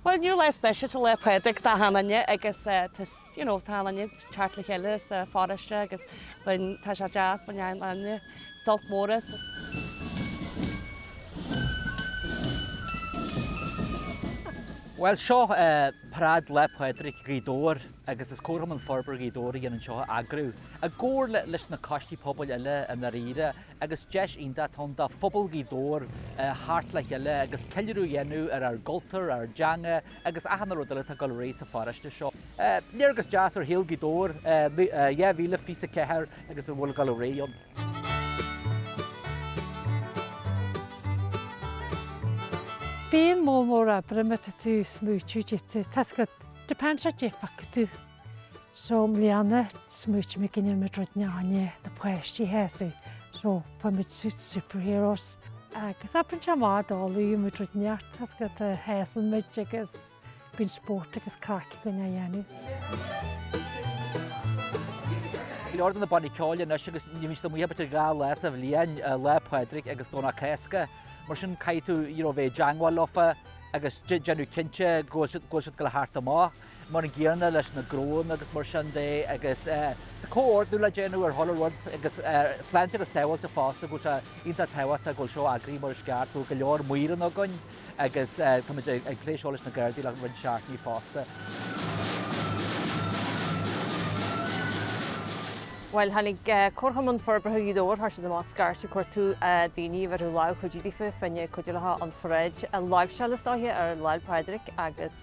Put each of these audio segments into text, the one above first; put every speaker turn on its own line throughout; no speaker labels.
Bhuel, inniu lá speisialta, Lá Fhéile Pádraig, d'achan duine, agus you know tá achan duine ag teacht le chéile sa pharóiste agus tá sé deas, baineann achan duine sult mór as.
Bhuel, seo paráid Lá Fhéile Pádraig Ghaoth Dobhair agus is Comharchumann Forbartha Ghaoth Dobhair a dhéanann seo a eagrú, i gcomhar leis na coistí pobail eile i ndáiríre. agus deis iontach atá ann do phobal Ghaoth Dobhair theacht le chéile agus ceiliúradh a dhéanamh ar ár gcultúr, ár dteanga agus achan rud eile atá ag dul ar aghaidh sa pharóiste seo. Léargas deas ar shaol Ghaoth Dobhair 2024 agus a bhfuil ag dul ar aghaidh
ann. Bíonn moll mór oibre má tá tú smaoitiú duit, tá's agat, depends ar caidé a phioc tú. So i mbliana smaoitigh mé go ndéanfaidh muid rud neáinne do páistí, you see, so fuair muid suits superheroes. Agus abair anseo mar d'fholaíonn muid rud ineacht, tá's agat a sheasann muid agus bíonn spórt agus craic againn á dhéanamh.
Go leor de na bannaí ceoil anois agus ní bhíonn siad amuigh ach b'fhéidir dhá lá sa bhliain, Lá Fhéile Pádraig agus Domhnach Cásca. Mar sin caithfidh tú, you know, bheith i dteagmháil leofa agus déanamh cinnte go bhfuil siad ag dul a theacht amach. mar an gcéanna leis na gnónna agus mar sin de agus tá comhordú le déanamh ar chuile rud agus sláinte agus sábháilteacht fosta go bhfuil sé iontach tábhachtach go bhfuil seo eagraithe mar is ceart, go bhfuil go leor maor ann againn agus táimid ag plé seo leis na Gardaí le roinnt seachtainí fosta.
Bhuel, tháinig Comharchumann Forbartha Ghaoth Dobhair, chuir siad amach scairt ag cuartú daoine a bhéarfadh lámh chuidithe daofa fá choinne cuidiú leofa an pharáid a láimhseáil is dóiche ar Lá Fhéile Pádraig agus,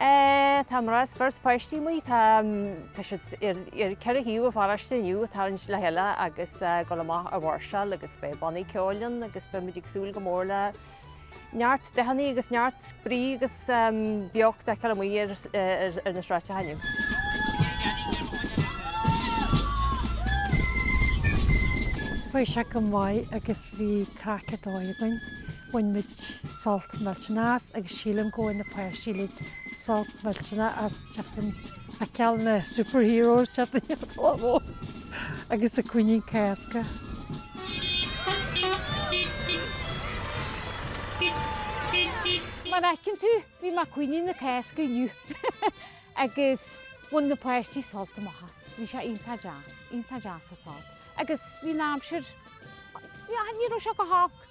Tá mná is fir is páistí amuigh. Tá siad ar ceithre thaobh an pharóiste inniu ag tarraingt le chéile agus ag dul amach a mháirseáil agus beidh bannaí ceoil ann agus beimid ag súil go mór le neart dathanna agus neart brí agus beocht a fheiceáil amuigh ar na sráideacha
inniu. Chuaigh sé go maith agus bhí craic ar dóigh againn. Bhain muid sult millteanach as agus sílim gur bhain na páistí uilig sult millteanach as teacht a fheiceáil na superheroes, teacht a fheiceáil an bhó agus an coinín Cásca. Mar a fheiceann tú, bhí mé mar choinín na Cásca inniu agus bhain na páistí sult amach as. Bhí sé iontach deas, iontach deas ar fad. Agus bhí an aimsir, ní raibh sé go holc.